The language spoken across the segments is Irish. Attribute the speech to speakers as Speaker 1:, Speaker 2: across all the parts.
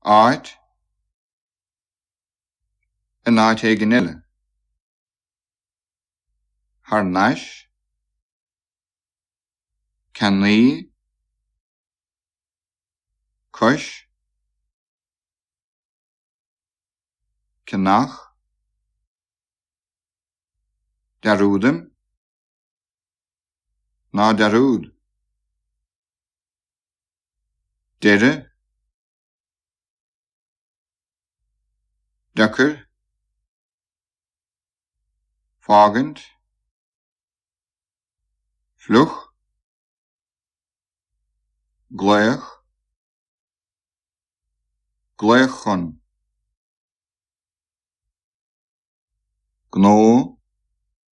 Speaker 1: áit, in áit éigin eile, thar n-ais, ceannaí, cois, ceannach, dearúdaim. Ná dearúd. Deireadh. Deacair. Fágaint. Fliuch. Glaoch. Glaoch chun. Gnó.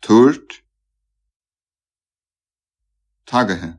Speaker 1: Tabhairt. Tagaithe.